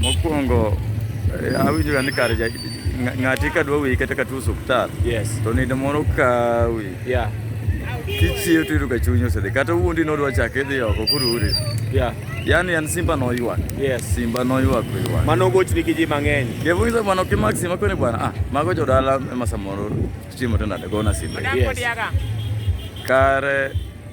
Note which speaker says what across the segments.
Speaker 1: Mokwongo eh, awinjoga ni kar ja- ng'a- ng'ati ka dwa wiyi kata ka tuo osuptal Yes. to nindo moro kawi Yeah.
Speaker 2: kichiew
Speaker 1: to iyudo ka chuny osedhi kata wuondi nodwa chake idhi oko kururi Yeah. yani
Speaker 2: an simba
Speaker 1: noywak Yes. simba
Speaker 2: noywak
Speaker 1: oywak Mano ogochni gi ji
Speaker 2: mang'eny. kevuiza bwana ukimak
Speaker 1: simba kwene bwana ah mago jodala ema samoro chiemo to nade gona simba Yes. kare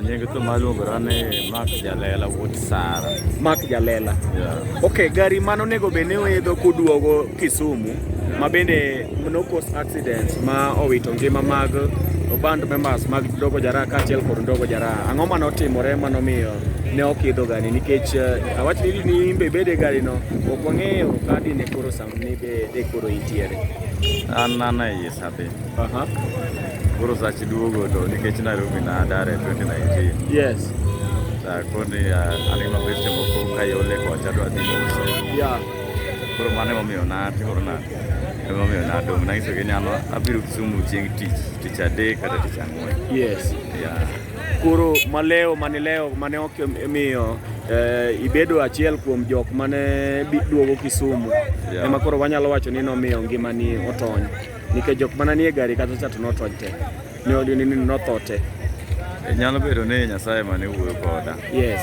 Speaker 2: Nyenge to
Speaker 1: maluongo rane Mark Jalela wuod Sara. Mark Jalela.
Speaker 2: Yeah. Okay,
Speaker 1: gari mano onego
Speaker 2: bed ni oidho kuduogo Kisumu ma bende no cause accident ma owito ngima mag band members mag Dogo Jara kaachiel kod Dogo Jara. Ang'o mane otimore mano miyo ne ok idho gari nikech eh, awach ni ni imbe bede gari no ok wang'eyo kadi ne koro sam ni be de koro intiere. An nana
Speaker 1: iye sabe. Aha. Koro sach duogo to nikech Nairobi na dare 2019. Yes.
Speaker 2: Ta koni
Speaker 1: anima bet temo ko kayole ko chadwa dhi uso. Yeah.
Speaker 2: Koro mane
Speaker 1: momiyo na toro na. Ema miyo na dong na iso genyalo abiro Kisumu chieng' tich tich adek kata tich ang'wen. Yes. Yeah. Koro
Speaker 2: maleo mane leo mane ok miyo eh, ibedo achiel kuom jok mane duogo Kisumu. Yeah. Ema koro
Speaker 1: wanyalo wacho ni
Speaker 2: nomiyo ngimani otony. Nikech jok mana nie gari kata cha to notony te. Ne odi ni notho te. E, nyalo
Speaker 1: bedo ni Nyasaye mane wuoyo koda. Yes.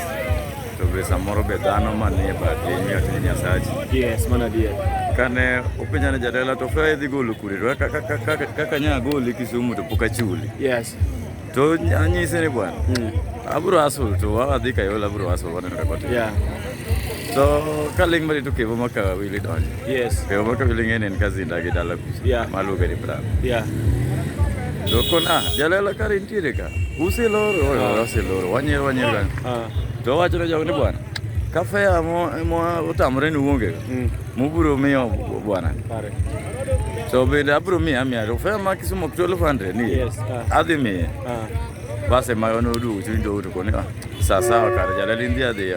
Speaker 2: To be
Speaker 1: samoro be dhano manie bathe imiyo tich Nyasachi. Yes, mana adier.
Speaker 2: Kane openja
Speaker 1: ne jatela to fe idhi golo kure to kaka nya goli Kisumu to pok achuli. Yes.
Speaker 2: tonyanyisene
Speaker 1: bwana mm. aburo asul to wadhi kayola aburo asul waneno rekod yeah.
Speaker 2: so
Speaker 1: ka ling mari to kevo maka wili donjo yes. kevo maka wili
Speaker 2: ng'eni en
Speaker 1: ka zinda gi dala kusa yeah. maluonge ni bram yeah. to kon ah jalela kar intiere ka usiloro oh, ah. usiloro wanyiero wanyiero gani ah. ah. to wachone jogo ni bwana kafe amo otamore ni uonge mm. Muburo miyo bwana. Pare.
Speaker 2: So
Speaker 1: bende abro miya mia to fare ma Kisumu ok 1200 ni. Yes. Uh. Adhi miye. Uh. Base ma yono du chuny do to koni. Sa sawa kar jala lindi adhi.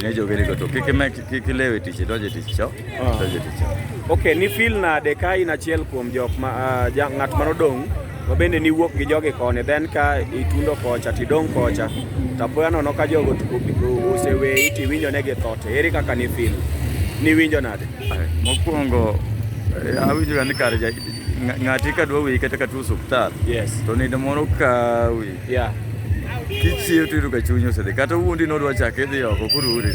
Speaker 1: Ne jo gele to kike me kike lewe tich doje tich cho. Doje tich. Okay, ni feel
Speaker 2: na dekai na chiel kuom jok ma uh, ng'at ma nodong' Wabende niwuok gi jogi koni then ka itundo kocha tidong' kocha tapoya nono ka jogo oseweyi tiwinjo ne githo to ere kaka ni fil niwinjo nade? Mokwongo
Speaker 1: eh, awinjoga ni kare ng'ati ka dwa weyi kata ka tuo osuptal to nindo moro kawi
Speaker 2: kichiew
Speaker 1: tiyudo ka chuny osedhi kata wuondi nodwa chak idhi oko kururi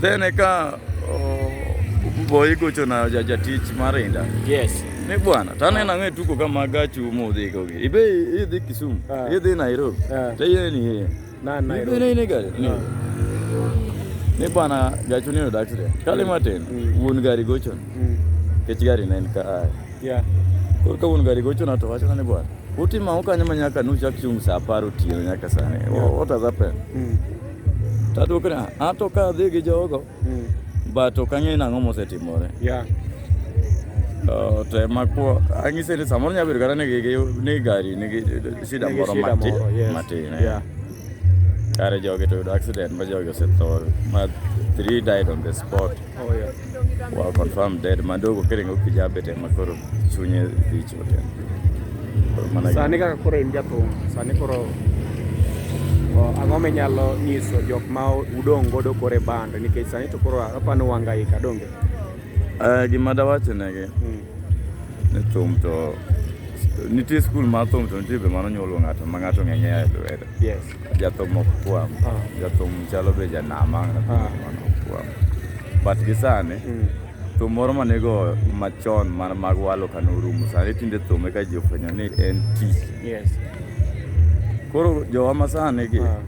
Speaker 1: then eka boy gocho na jatich mar inda yes ni
Speaker 2: bwana taneno
Speaker 1: ang'e tuko kama gachi umo udhi kogi ibe idhi Kisumu ah. idhi Nairobi ah. teyeni hiye na Nairobi ni
Speaker 2: ni gari ni ah.
Speaker 1: ni bwana gachu ni odak tire kale matin mm. wuon gari gocho mm. kech gari ne en ka a yeah
Speaker 2: koro ka wuon gari
Speaker 1: gocho na to wacho na ni bwana utima ukanyo manyaka nuchak chung' sa apar otieno nyaka sani what has happened mm. Tatu kana ato ka dhi gi jogo mm. but ok ang'eyo nang'o mosetimore.
Speaker 2: Yeah.
Speaker 1: Uh, to ema kuo ang'ise ni samoro nyalo bedo kata ni gari nigi shida moro matin matin. Eh. Yeah.
Speaker 2: Kare
Speaker 1: jogi to yudo accident ma jogi osetho ma three died on the spot. Oh, yeah.
Speaker 2: Well, confirmed
Speaker 1: dead. Mandogo kiringo kijabe te makoro chunye dhi chote. Sani kaka koro
Speaker 2: in jathum, sani koro ang'o minyalo nyiso jok ma udong' godo koro e band nikech sani to koro apani wanga ika donge?
Speaker 1: Uh, gima dawacho negi
Speaker 2: hmm.
Speaker 1: ni thum to nitie skul mar thum to nitie be mano nyuolo ng'ato ma ng'ato ng'enye e lwedo. Yes. jathum
Speaker 2: ok kwam
Speaker 1: ah. jathum chalo be janama ah. ok kwam but gi sani mm. thum moro ma nigo machon man mag walo ka norumo sani tinde thum eka ji ofwenyo ni en tich koro jowa ma sani gi ah.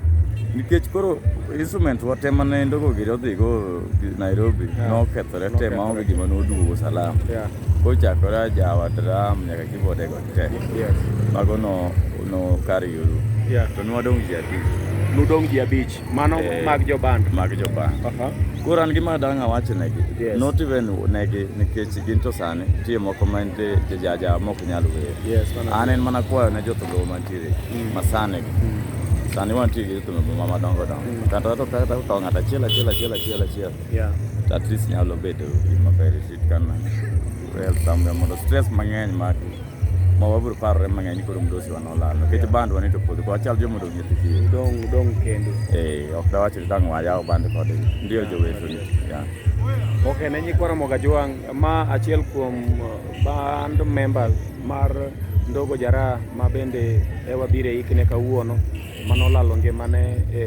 Speaker 1: nikech koro instrument wa te mane ndogo giri odhigo Nairobi nokethore te maonge gima noduogo salama kochakore ajawa dram nyaka kibodego Te. Yes. Mago no no kari yulu. Yeah. To nwa dong ji ati. Nudong ji abich.
Speaker 2: Mano Eh. mag joband. Mag joban. Aha.
Speaker 1: Koro an gima dang' awach negi. Yes. Not even negi nikech gin to sani tie moko ma nitie jaja mok nyal wer. Yes, mano. An en mana kwayo ne jothumbe mantiere Mm. masani gi. Mm. Sani wantie gi jothumbe ma madongo dongo. Mm. Kata to kata to ng'ato achiel achiel achiel achiel achiel. Yeah. At least nyalo bedo gima ber shit kana. Well, samga mondo stress mang'eny mak ma wabiro parore mang'eny koro mdosi wa nolal nikech band wanito podho kwa chal joma odong' nyithi kiye Udong udong kendo.
Speaker 2: eh ok dawach
Speaker 1: ni dang' wayaw band kod ndio joweto ni yeah. Okay,
Speaker 2: ne nyikwa Ramoga Jwang, ma achiel kuom uh, band members mar Ndogo Jara ma bende ewa bire ikne kawuono. mane olalo ngimane e,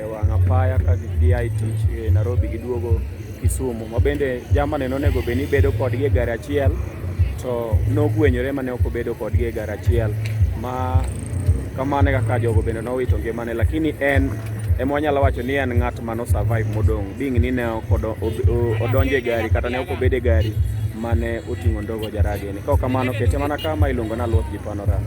Speaker 2: e wang' apaya ka gia e tich e Nairobi giduogo Kisumu, ma bende jamane nonego bed ni bedo kodgi e gari achiel to nogwenyore mane ok obedo kodgi e gari achiel ma kamano kaka jogo bende nowito ngimane, lakini en ema wanyalo wacho ni en ng'at mano survive modong' bing ni ne ok odonjo e gari kata ne ok obedo e gari mane oting'o ndogo jarageni. Kaok kamano kete mana kama iluongo ni Aluoth Jipanorama.